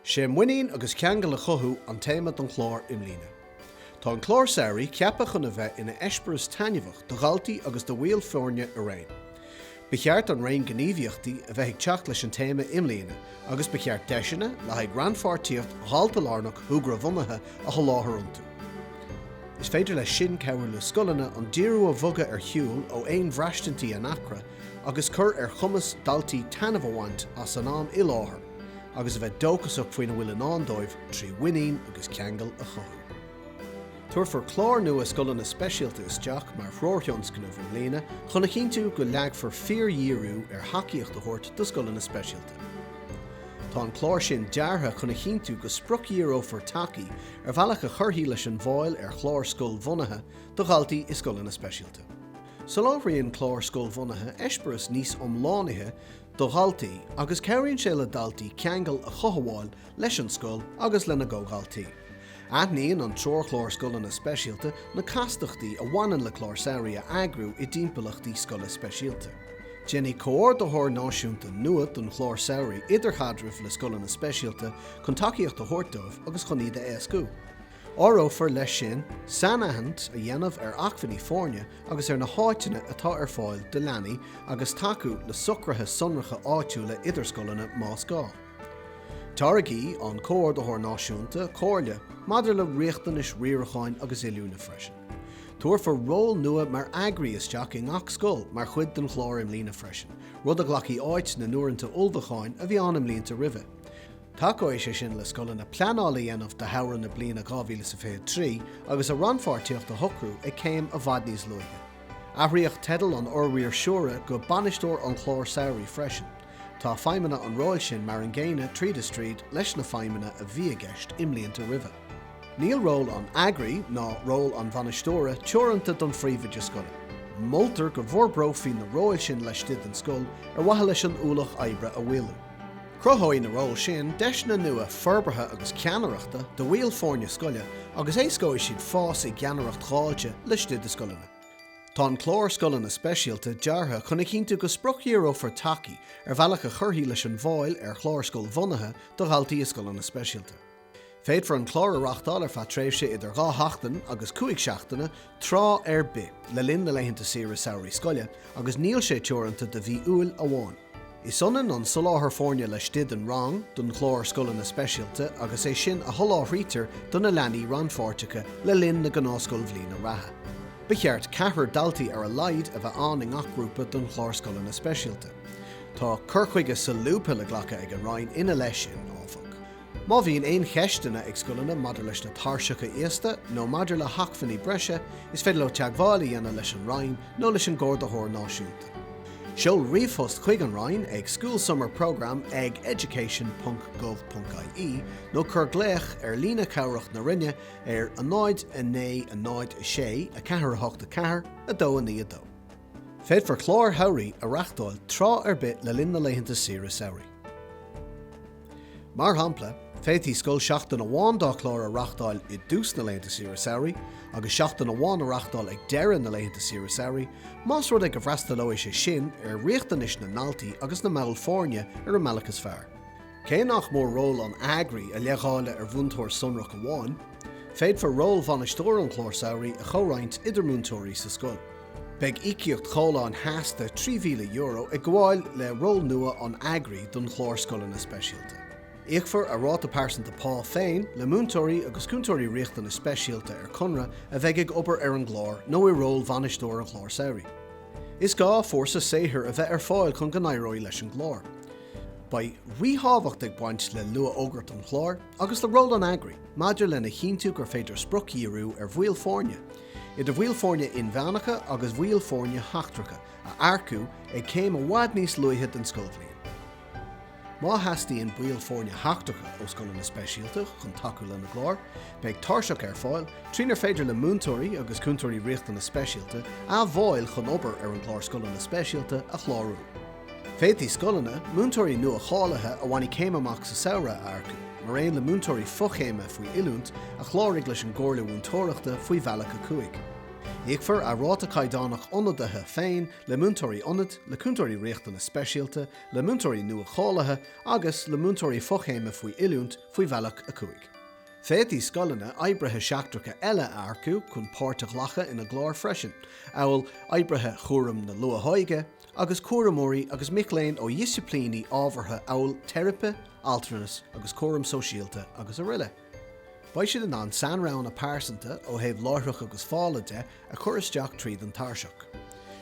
'Sé muinín agus ceangal a chothú an téama don chlár i mbliana. Tá an clár samhraidh ceaptha chun a bheith ina eispéireas taitneamhach do dhaltaí agus do bhaill foirne araon. Ba cheart an raon gníomhaíochtaí a bheith ag teacht leis an téama i mbliana agus ba cheart deiseanna le haghaidh rannpháirtíocht dhaltalárnach shúgrabhunaithe a sholáthar iontu. Is féidir leis sin cabhrú le scoileanna an díriú a bhogadh ar shiúl ó aon bhraistintí easnamh agus cur ar chumas daltaí taitneamh a bhaint as an am i láthair agus a bheith dóchasach faoina bhfuil i ndán dóibh trí mhuinín agus ceangal a chothú. Tabharfar clár nua Scoileanna Speisialta isteach mar threoirthionscnamh i mbliana chun a chinntiú go leagfar fíordhíriú ar thacaíocht a thabhairt do scoileanna speisialta. Tá an clár sin deartha chun a chinntiú go spriocdhíreofar tacaí ar bhealach a chuirfidh leis an bhfáil ar chláir scoilbhunaithe do dhaltaí i scoileanna speisialta. Soláthraíonn clár scoilbhunaithe eispéireas níos iomlánaíche do dhaltaí agus cabhraíonn sé le daltaí ceangal a chothabháil leis an scoil agus lena gcomhdhaltaí. Aithníonn an treoirchlár Scoileanna Speisialta na castachtaí a bhaineann le clár samhraidh a eagrú i dtimpeallachtaí scoile speisialta. Déanfaidh Comhordaitheoir Náisiúnta nua don Chlár Samhraidh idirchaidreamh le Scoileanna Speisialta chun tacaíocht a thabhairt dóibh agus chun iad a éascú. Áireofar leis sin sainaithint a dhéanamh ar acmhainní foirne agus ar na háiteanna atá ar fáil do leanaí agus tacú le socruithe sonracha áitiúla idir scoileanna más gá. Tairgfidh an Comhordaitheoir Náisiúnta comhairle maidir le riachtanais riaracháin agus oiliúna freisin. Tabharfar ról nua mar eagraí isteach i ngach scoil mar chuid den chlár i mbliana freisin, rud a ghlacfaidh áit na n-uaireanta ullmhúcháin a bhí ann i mblianta roimhe. Tacóidh sé sin le scoileanna pleanáil a dhéanamh do shamhradh na bliana 2023 agus a rannpháirtíocht a shocrú ag céim i bhfad níos luaithe. Athraíodh teideal an fhormhaoirseora go 'Bainisteoir an Chláir Samhraidh' freisin. Tá feidhmeanna an róil sin mar an gcéanna tríd is tríd leis na feidhmeanna a bhí i gceist i mblianta roimhe. Níl ról an eagraí, ná ról an bhainisteora, teoranta don phríomhoide scoile. Moltar go bhforbrófaí na róil sin laistigh den scoil ar mhaithe leis an ualach oibre a mhaolú. Cruthóidh na róil sin deiseanna nua forbartha agus ceannaireachta do bhaill foirne scoile agus éascóidh siad fás i gceannaireacht dháilte laistigh de scoileanna. Tá an Clár Scoileanna Speisialta deartha chun a chinntiú go spriocdhíreofar tacaí ar bhealach a chuirfidh leis an bhfáil ar chláir scoilbhunaithe do dhaltaí i scoileanna speisialta. Féadfar an clár a reáchtáil ar feadh tréimhse idir dhá sheachtain agus cúig seachtaine, tráth ar bith le linn na laethanta saoire samhraidh scoile, agus níl sé teoranta do mhí Iúil amháin. Is ionann an soláthar foirne laistigh den rang don chlár Scoileanna Speisialta agus é sin a sholáthraítear do na leanaí rannpháirteacha le linn na gnáthscoilbhliana reatha. Ba cheart ceathrar daltaí ar a laghad a bheith ann i ngach grúpa don chlár Scoileanna Speisialta. Tá cur chuige solúbtha le glacadh ag an Roinn ina leith sin, áfach. Má bhíonn aon cheisteanna ag scoileanna maidir leis na tairseacha íosta nó maidir le hacmhainní breise, is féidir leo teagmháil a dhéanamh leis an Roinn nó leis an gComhordaitheoir Náisiúnta. Seol ríomhphost chuig an Roinn ag schoolsummerprogramme ag education.gov.ie nó cuir glaoch ar líne chabhrach na Roinne ar 090 648 4292. Féadfar cláir shamhraidh a reáchtáil tráth ar bith le linn na laethanta saoire samhraidh. Mar shampla, féadfaidh scoil seachtain amháin dá chlár a reáchtáil i dtús na laethanta saoire samhraidh, agus seachtain amháin a reáchtáil ag deireadh na laethanta saoire samhraidh, más rud é go bhfreastalóidh sé sin ar riachtanais na ndaltaí agus na mball foirne ar an mbealach is fearr. Cé nach mór ról an eagraí a leithdháileadh ar mhúinteoir sonrach amháin, féadfar ról bhainisteoir an chláir samhraidh a chomhroinnt idir múinteoirí sa scoil. Beidh íocaíocht chomhlán sheasta €3,000 ag gabháil le ról nua an eagraí don chlár Scoileanna Speisialta. Íocfar a ráta pearsanta pá féin le múinteoirí agus cúntóirí riachtanas speisialta ar conradh a bheidh ag obair ar an gclár nó i ról bhainisteoir an chláir samhraidh. Is gá fórsa saothair a bheith ar fáil chun go n-éireoidh leis an gclár. Beidh ríthábhacht ag baint le luathfhógairt an chláir agus le ról an eagraí maidir lena chinntiú gur féidir spriocdhíriú ar bhaill foirne, idir bhaill foirne inmheánacha agus bhaill foirne sheachtracha, a earcú ag céim i bhfad níos luaithe den scoilbhliain. Má theastaíonn baill foirne sheachtracha ó Scoileanna Speisialta chun tacú lena gcláir, beidh tairseach ar fáil trínar féidir le múinteoirí agus cúntóirí Riachtanas Speisialta a bhfáil chun obair ar an gclár Scoileanna Speisialta a chlárú. Féadfaidh scoileanna, múinteoirí nua-cháilithe a bhainfidh céim amach sa samhradh a earcú, mar aon le múinteoirí fochéime faoi oiliúint, a chláraigh leis an gComhairle Mhúinteoireachta faoi Bhealach 5. Íocfar a ráta caighdeánach ionadaithe féin le múinteoirí ionaid, le cúntóirí riachtanas speisialta, le múinteoirí nua-cháilithe agus le múinteoirí fochéime faoi oiliúint faoi Bhealach 5. Féadfaidh scoileanna oibrithe seachtracha eile a earcú chun páirt a ghlacadh ina gcláir freisin, amhail oibrithe chúram na luathóige, agus cúramóirí agus mic léinn ó dhisciplíní ábhartha amhail teiripe, altranas agus cúram sóisialta agus aroile. Beidh siad in ann sainroghanna pearsanta, ó thaobh láithreach agus fála de, a chur isteach tríd an tairseach.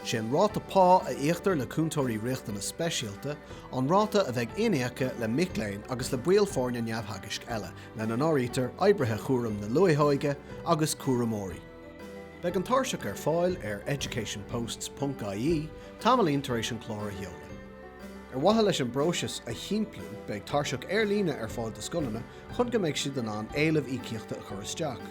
Sé an ráta pá a íoctar le Cúntóirí Riachtanas Speisialta an ráta a bheidh iníoctha le mic léinn agus le baill foirne neamhtheagaisc eile, lena n-áirítear oibrithe chúram na luathóige agus cúramóirí. Beidh an tairseach ar fáil ar educationposts.ie tamaillín tar éis an clár a sheoladh. Ar mhaithe leis an bpróiseas a shimpliú, beidh tairseach ar líne ar fáil do scoileanna chun go mbeidh siad in ann éilimh íocaíochta a chur isteach.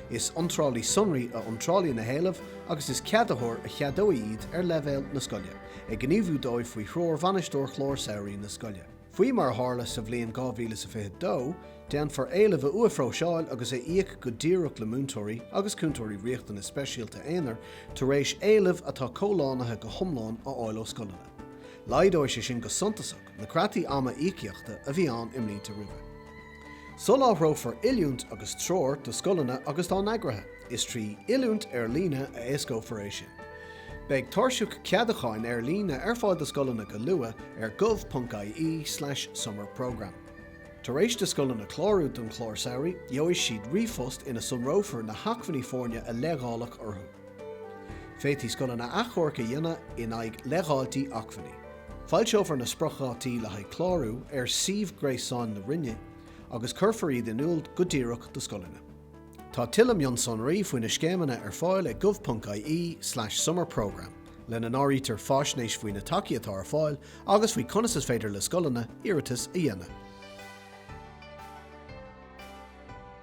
Is iontrálaí sonraí a iontrálfaidh na héilimh agus is ceadaitheoir a cheadóidh iad ar leibhéal na scoile, ag gníomhú dóibh faoi threoir Bhainisteoir Chlár Samhraidh na scoile. Faoi mar a tharla sa bhliain 2022, déanfar éilimh a uathphróiseáil agus a íoc go díreach le múinteoirí agus cúntóirí riachtanas speisialta aonair tar éis éileamh atá comhlánaithe go hiomlán a fháil ó scoileanna. Laghdóidh sé sin go suntasach na creataí ama íocaíochta a bhí ann i mblianta roimhe. Soláthrófar oiliúint agus treoir do scoileanna agus dá n-eagraithe. Is trí oiliúint ar líne a éascófar é sin. Beidh tairseach ceadacháin ar líne ar fáil do scoileanna go luath ar gov.ie/summerprogramme. Tar éis do scoileanna clárú don chlár samhraidh, gheobhaidh siad ríomhphost ina sonrófar na hacmhainní foirne a leithdháileadh orthu. Féadfaidh scoileanna achomharc a dhéanamh in aghaidh leithdháiltí acmhainní. Foilseofar na spriocdhátaí le haghaidh clárú ar suíomh gréasáin na Roinne agus cuirfear iad in iúl go díreach do scoileanna. Tá tuilleadh mionsonraí faoi na scéimeanna ar fáil ag gov.ie/summer programme, lena n-áirítear faisnéis faoi na tacaí atá ar fáil agus faoi conas is féidir le scoileanna iarratas a dhéanamh.